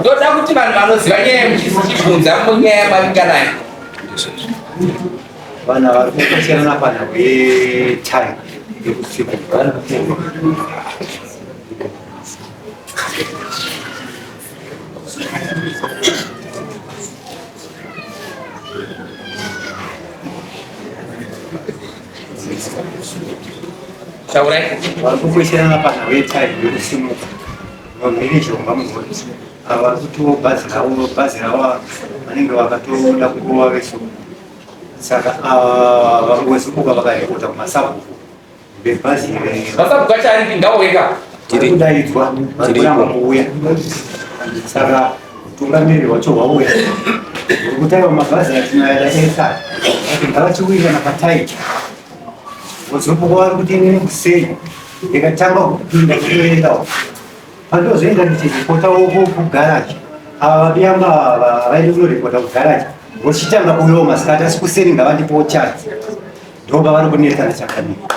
ndoda kuti vanhu vanoziva nyaya yemuchisi chibvunza munyaya yamavinga nayo vanhu vari kukasirana pana wetime yekusiku Taurai kuti vari kukwesherana panhau yetaimu yokusimuka vamhirizhomba mugoti ava vari kutiwo bhazi ravo bhazi ravo vanenge vakatoda kurova vesu saka ava vari kuwesukuka vakaripota kumasabhuku bebhazi iri Masabuka chari pindawo weka. vari kudaidzwa vari kuramba kuuya saka Utungamiri hwacho hwauya ukutaiwa mabhazi atinoyada esa ngavachiwirirana patai vozopuka vari kuti inini kusei ndikatanga kupinda kutoendawo pandozoenda ndichiripota woko kugaraji ava vabiyamba vaende kunoripota kugaraji vochitanga kuuyawo masikati asi kuseni ngavandipowo chance ndoba vari kunetsana chakamira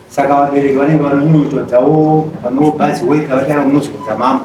saka vabereki vanenge vanonyunyuto dzawo vanobazi weka vatanga munozodza mambo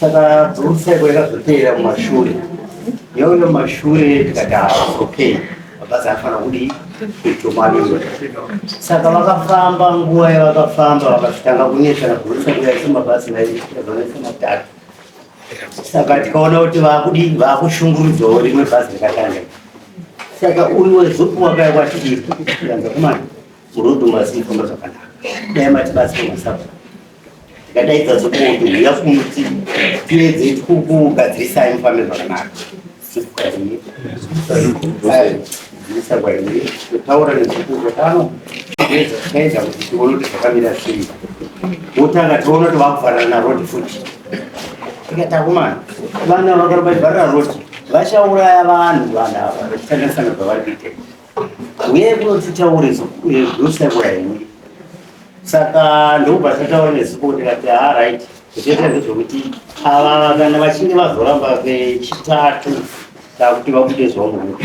saka dzomusai kwaenda zvoteera kumashure yauno mashure tikati okay mabhazi afanira kudii kuitomaliwa saka vakafamba nguva yavakafamba vakazvitanga kunetsana kuisa kuyaisa mabhazi naizvanoisa matatu saka tikaona kuti vakudii vakushungurudzwawo rimwe bhazi rikatanga saka uyu wezuku wakaya kwatiianza kumana murodhu mazifamba zvakanaka dai matibatsira masabaa ndikadaidza zokoto huya kumuti tiedze kukugadzirisai mufambe zvakanaka taura nezvikuru pano taedza kuti tione kuti zvakamira sei wotanga tiona kuti vakufanana narod futi tikatakumana vana vakarobaivarira roti vachauraya vanhu vanhu ava vachishandisana zvavari kuita Uye kunotitaure zvosaura henyu. Saka ndokubva tataura nezipo kuti kati ha ah, right zvoita ndezvokuti ava kana vachinge vazoramba vechitatu takuti vakuite zvaungu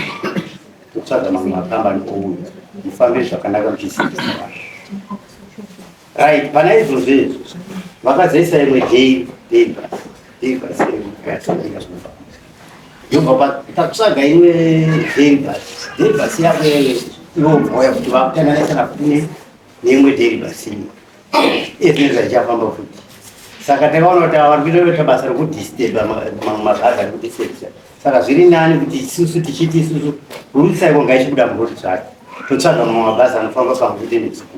kutsvaga mamwe makambani ouya mufambe zvakanaka muchiziisa Right, pana izvozvo izvo vakazoisa imwe dei dei basi dei basi yakatodika zvinofa yobva pakutsvaga imwe dei basi dei basi yako ivo mhoya kuti vakutananaisana kune neimwe dei basi iye zvinenge zvachichafamba futi saka takaona kuti ava vari kuita basa rekudisturba mamwe mabhazi ari kudisturba saka zviri nani kuti isusu tichiti isusu rutsa iko ngaichibuda muroad zvake totsvaga mamwe mabhazi anofamba pamwe chete nesuku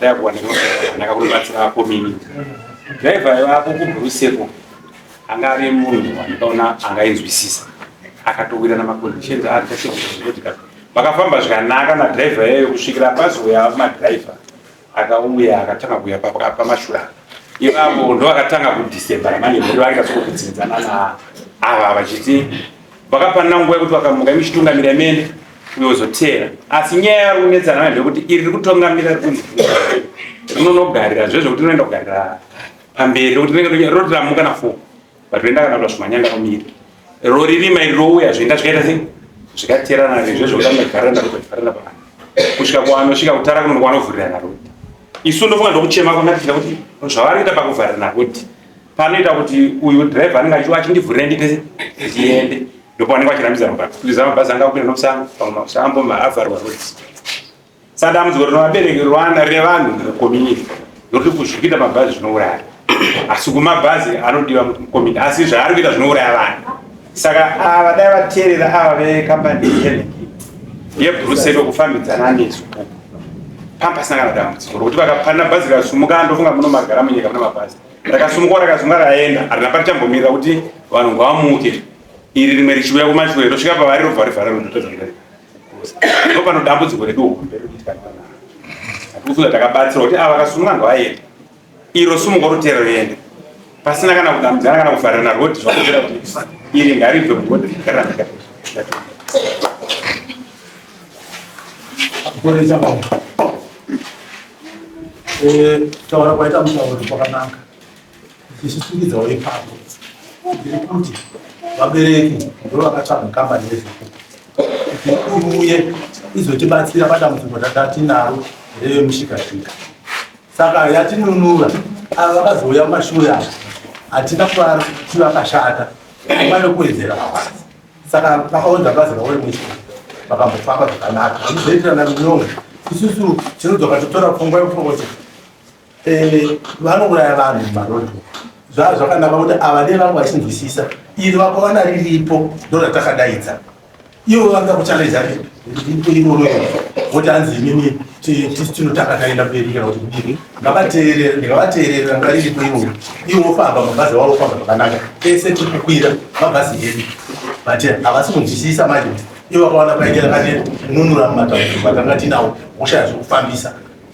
Dai kuwanika zvakanaka kunobatsira ako mimi. Driver yako kubhuruseko anga ari munhu wandikaona angainzwisisa akatowira namaconditions aakasekuzotika vakafamba zvakanaka nadriver yayo kusvikira pazouya madriver akauya akatanga kuuya pamashura ipapo ndo akatanga kudecember ramani ndo akasokupinzana na ava vachiti vakapanana nguva yekuti vakamuka imuchitungamira imene uyozoteera asi nyaya yari kunetsana nayo ndekuti iri riri kutongamira rikunzi rinonogarira zve zvekuti rinoenda kugarira pamberi rekuti rinenge roti ramuka na four but roenda kana kuta zvimanyanga romira roririma iri rouya zvoenda zvikaita sei zvikateerana rizve zvokuti anogarana kutofarana pa kusvika kwanosvika kutara kunono kwanovhurirana roti isu ndofunga ndokuchema kwamatiita kuti zvavari kuita pakuvharirana roti panoita kuti uyu driver anenge achiwa achindivhurira ndipese ndiende ndopavanenge vachirambidza mabhazi kuliza mabhazi anga kupinda nomusana pamwe makusana amboma avharwa roads saka dambudziko rino vabereki rwana revanhu mukomini ndokuti kuzvikuita mabhazi zvinouraya asi kumabhazi anodiwa mukomini asi zvaari kuita zvinouraya vanhu saka ava dai vateerera ava vekambani yebrusedo kufambidzana nesu pampasina kana dambudziko rokuti vakapanda bhazi rikasumuka ndofunga muno magara munyika muna mabhazi rakasumuka rakasumuka raenda harina paritambomirira kuti vanhu ngavamuke iri rimwe richiuya kumashure rosvika pavari robva rivhara rondotadza kudai ndo pano dambudziko redu hombe rekuti kana hatiufunga takabatsira kuti ava vakasumuka ngavaenda iro sumuka rotera roenda pasina kana kudambudzana kana kuvharirana roti zvakutera kuti iri ngaribve mugode gara eh, taura kwaita mutauro kwakanaka ichisungidzawo ipapo ndiri kuti vabereki ndo vakatsvaga kambani yezvekuti iuye izotibatsira padambudziko tatatinaro revemushikashika Saka yatinunura ava vakazouya kumashure ava hatina kuvara kuti vakashata vane kuwedzera mabasa saka vakaunza basa rauri mwisi vakambofamba zvakanaka vanozoitirana runyongo isusu tinodzoka totora pfungwa yekuti eh, vanouraya vanhu mumarodi zvaa zvakanaka kuti ava nevamwe vachinzwisisa iri vakawana riripo ndoratakadaidza Ivo vanga kuchallenge ari iroro voti hanzi imimi tinotanga taenda mberi kana kuti kudini ngavateerere ndingavateerere ranga riripo iroro ivo vofamba mabhazi wavo famba zvakanaka ese tiri kukwira mabhazi edu but havasi kunzwisisa manje ivo vakawana paitira kane nunura mumatauko vatanga tinawo hosha yazvekufambisa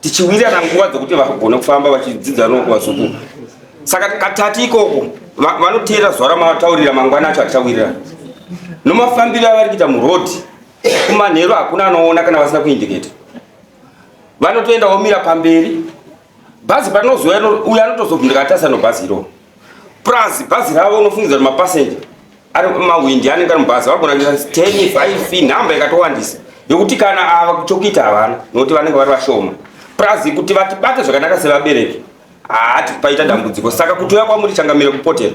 tichiwirirana nguva dzekuti vagone kufamba vachidzidza noko vazukuru saka katatu ikoko vanoteera zuva ramataurira mangwana acho achawirirana nomafambiro avari kuita muroad kumanheru hakuna anoona kana vasina kuindiketa vanotoenda vomira pamberi bhazi panozouya uyo anotozovhunduka atasano bhazi iroo plus bhazi ravo unofungidza kuti mapassenger ari mawindi anenge ari mubhazi vagona kuita 10 5 nhamba ikatowandisa yokuti kana ava kuchokita havana nokuti vanenge vari vashoma plus kuti vatibate zvakanaka sevabereki haati paita dambudziko saka kutuya kwamuri changamire kupotera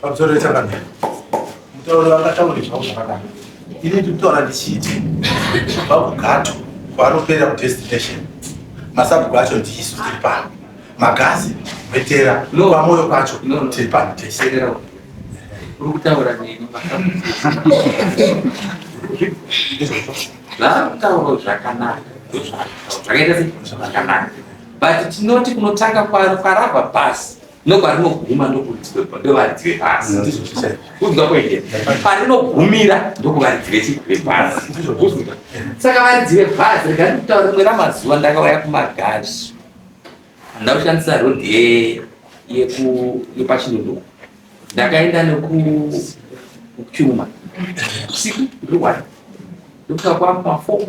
Pamusoro wechakadai, mutauri vakataura zvavo zvakadai. Ini ndikutaura ndichiti kubva kugato kwaanopera kudestination, masabhuku acho ndiisu tiri pano, magazi vetera kwamoyo kwacho tiri pano tese. Uri kutaura neni zvaakutaura zvakanaka zvakaita sei zvakanaka but tinoti kunotanga kwarava bhasi ndoparinoguma ndokudzwepa ndovaridzwe pasi mm. ndizvo zvichai kudzwa kwende parinogumira ndokuvaridzwe vechidzwe pasi ndizvo kudzwa saka varidzwe pasi rega ndikutaura rimwe ramazuva ndakauya kumagazi ndakushandisa rodhi ye yeku yepachinundu ndakaenda neku kuchuma usiku ndiri wani ndokuta kwamafo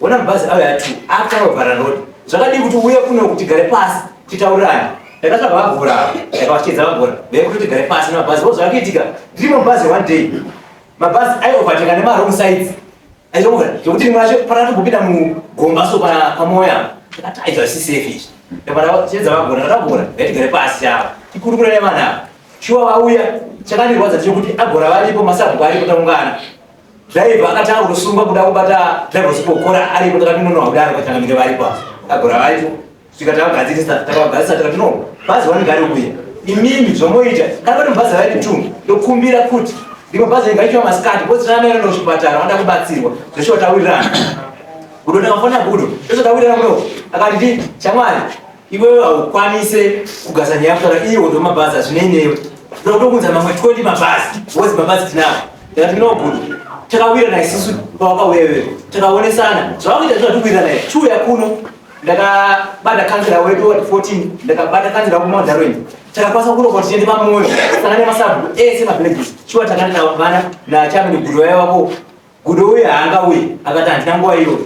Ona mabhazi avo yatu akutanga kuvhara road. Zvakadii kuti uye kuno kuti gare pasi titaurirane. Ndakatsvaga vabhora avo, ndakavachidza vabhora. Vave kuti gare pasi nemabhazi vo zvakakiitika. Ndiri mubhazi one day. Mabhazi ayi overtake nema wrong sides. Aizongovhara zvekuti rimwe racho parati kupinda mugomba so pa pamoya. Ndakati ayi zvasi safe izvi. Ndakavara chedza vabhora, ndakabhora. Vati gare pasi avo. Tikurukure nevana avo. Shuwa vauya chakandirwadza chekuti agora varipo masabhuku aripo taungana. Driver akati akusungwa kuda kubata driver sikokora aripo takatinonoha kudaro katangamire varipo agora varipo svika takagadzirisa takagadzirisa takati no bhazi vanogari kuya imimi zvomoita kana vati mubhazi raiti two ndokumbira kuti rimwe bhazi ringa ichiwa masikati bhozi rana maira ndochipatara vanoda kubatsirwa zveshuwa tawirirana gudo ndakafonera gudo ndosvika tawirirana kuno akati ndi shamwari Iwewe haukwanise kugasa nyaya kutara iye wodo mabhazi hazvinei newe. Ndokutokunza mamwe 20 mabhazi. Wozi mabhazi tinawo. Ndati no good. Takawirana isusu pawakauya iwewe. Takaonesana. Zvawakuita zvati kuwirana iwe. Chuya kuno. Ndakabata kansela wedu ward 14. Ndakabata kansela wedu ward 14. Takakwanisa kuno kuti tiende pamoyo. Sangane masabu. Eh, sema villages. Chuya takana na vana na chama ni guru wako. Gudo uye haangauye akati handina nguva iyoyo.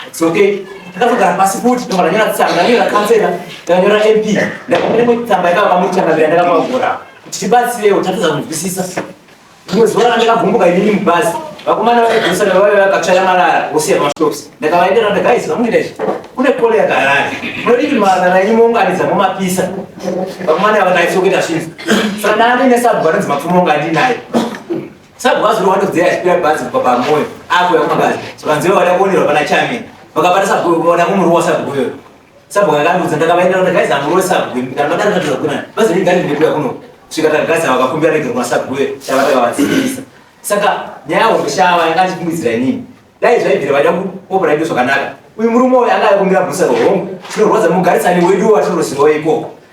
It's okay. Ndakazogara pasi futi ndobva ndanyora tsamba ndanyora kansela ndanyora MP ndakapinda imwe tsamba yakava pamuchangamira ndakamagora kuti tibatsirewo tatadza kunzwisisa. Rimwe zuva randakavhumbuka inini mubhazi vakomana vaigusa vavave vakatsvaya marara vosiya pamashopsi ndakavaendera kuti guys vamuita izvi kune kole yakarara munodii kuti marara enyu mounganidza momapisa vakomana ava ndaisokuita zvinhu saka ndaandiine sabhu vanonzi mapfumo ungandinaye Sabhukazi uri wandodzeya achipira bhazi kubva pamoyo apo yakumagazi zvakanziwa vada kuonerwa pana Chami vakabata sabhuku vada kumuruwa sabhuku iyoyo sabhuku akandiudza ndakavaenda kuti gaizi amurowe sabhuku kana madaro zvandira kuna bhazi rinenge ndiri ndekuya kuno svika tagazi ava vakakumbira rege kuna sabhuku iyoyo chavataka vadzidzisa saka nyaya hoshava yanga achifungidzira inini dai zvaibvira vaida kuopera ido zvakanaka uyu murume uyu anga aikumbira bhusa rohongu tinorwadza mugarisani wedu watinoroziwa ikoko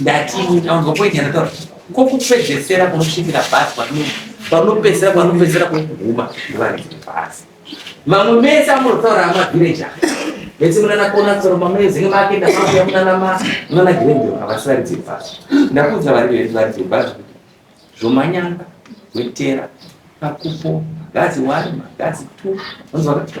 ndati ndaunzwa point yandataura ko kupedzesera kunosvikira bhazi panopedzesera panopedzesera kuguma ndivarikiti bhazi vamwe mese amunotaura amavhireji aa vese munanakona kusoro mamezenge makenda makuya munanama munanagirendio havasi varidzi bhazi ndakuudza vari varidzi bhazi kuti zvomanyanga wetera pakupo gazi one magazi two onzwa katika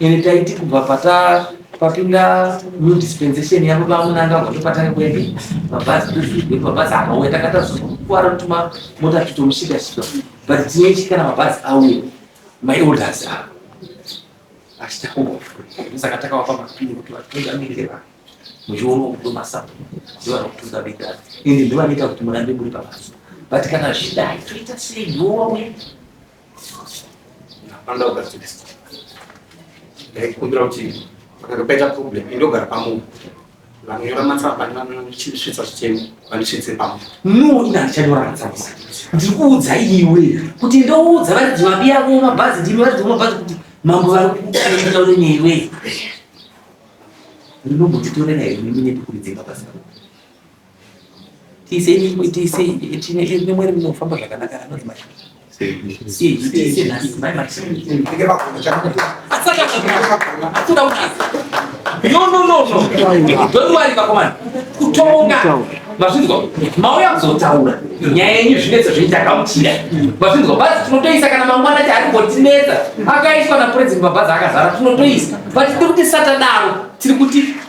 Ende taiti kubva pata papinda new dispensation yavo vamunangagwa topatanga kwepi mabhazi tozvigwe mabhazi akauya takatazokuwara kutuma mota titomushika shika but tinoiti kana mabhazi auya my orders avo achitakuwa saka takawapa mapini kuti vatungamirire vanhu muchiona kudo masapo ndivana kutungamirira ende ndivanoita kuti murambe muri pabasa but kana zvidai toita sei nowauya Anoda kugadziriswa. Ndaikumbira kuti kana paita problem indogara pamunhu vanonyora matsamba vanosvitsa zvichemo vanosvitse pamwe no ina ndichanyora matsamba ndiri kuudza iwe kuti ndoudza varidzi vabi yavo mabhazi ndimi varidzi vamabhazi kuti mambo vari kukuaitaure newe ndinombotitorera here mimi nepekuridzenga basa mazvinzwa mauya kuzotaura nyaya yenyu zvinetso zveitakautira mazvinzwa bhazi tinotoisa kana mangwana ti ari ngotinetsa akaiswa napurezidenti mabhazi akazara tinotoisa but tiri kuti satadaro tiri kuti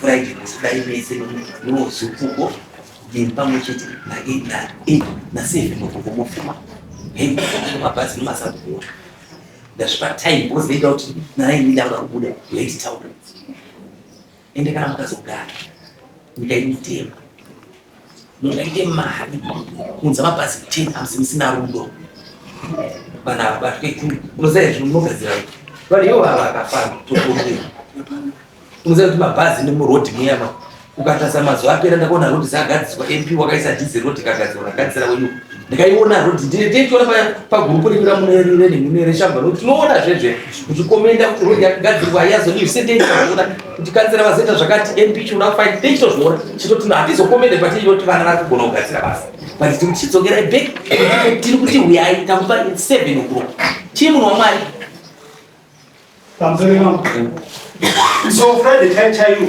Friday musidai mese nozukuko ndiri pamwe chete naseven mukuko mofuma hembe mabhazi nemasabhuwa ndazvipa time because they doubt nai ndidauda kubuda late town ende kana makazogara ndikaimutema Munenge mari kunza mapazi 10 hamsi musina rudo vanhu ava vasvike kuri unoziva izvi munogadzira vanhu ivo vava vakafana tokumbira unoziva kuti mabhazi nemurodhi muyama ukatarisa mazuva apera ndakaona rodhi dzagadziswa mp wakaisa dhizi rodhi kagadzirwa kagadzira wenyu ndikaiona rhodhi ndine teichiona paya pagurupu redu ramunerire nemune reshamba nokuti tinoona zvezve kuchikomenda kuti rhodhi yakagadzirwa haiyazodii zvise teichiona kuti kanzera vazeta zvakati mp chinoda kufaini teichitozviona chitoti no hatizokomende patiinoti vana vari kugona kugadzira basa but tiri kuchidzokerai back tiri kuti huyai takupa seven o'clock chii munhu wamwari so friday chaichaiyo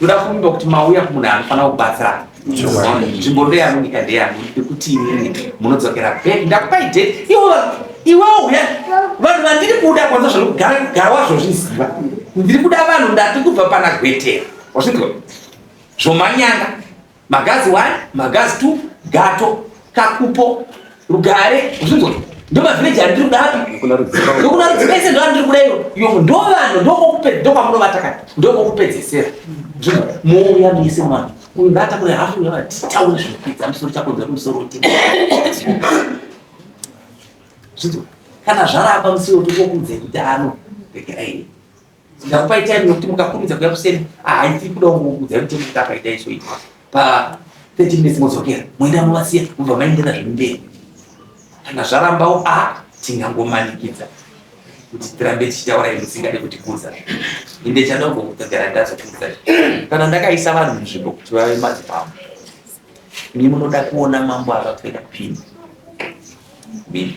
ndoda kuvimba kuti mauya kumunhu anofanira kubatsirana nzvimbo ndeyanu nyika ndeyanu nekuti inini munodzokera bek ndakupai date iwo iwewo uya vanhu vandiri kuda kwanza zvanogara wazvozviziva ndiri kuda vanhu ndati kubva pana gwetera wazvinzwa zvomanyanga Magazi one, magazi two, gato, kakupo, rugare, zvinzwa. Ndo ma village ari kuda api? Kuna rudzika. Ndo kuna rudzika ise ndo ari kuda iro. Yo ndo vanhu ndo kokupe ndo kwamuno vatakana. Ndo kokupedzesera. Zvinzwa. Mouya muise mwana. Uyu ngata kule hafu ya vati. Tawe zvipidza musoro chako nzwa musoro ti. Zvinzwa. Kana zvaramba musoro tuko kunze kutano. Bekerai. Ndakupai time nokuti mukakurumidza kuya kuseri haisi kuda kungokudza kuti kuti akaita iso ito pa 30 minutes modzokera moenda movasiya mobva maendera zvinhu mberi kana zvarambawo a tingangomanikidza kuti tirambe tichitaura musingade kuti kuza inde chada kugara ndazokuza kana ndakaisa vanhu munzvimbo kuti vave madzipambo ni munoda kuona mambo akapfeka pini mimi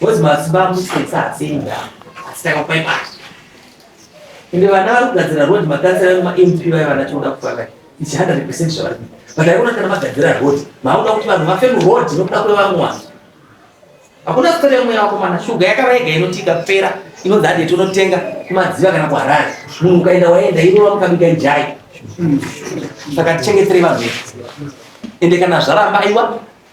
Bozi mazuva amusetsa hasinda asi takapai mari ende vana vari kugadzira road makansera emp vaye vana tinoda kufaka ichi 100 percent zvavari kuita but aikona kana magadzira road maauda kuti vanhu vafe muroad nokuda kwevamwe vanhu hakuna sikati yamweya wako mana shuga yakava yega inotika kupera inonzi hade tonotenga kumadziva kana kuharare munhu ukaenda waenda irova mukabika njai saka tichengeterei vanhu vedu ende kana zvaramba aiwa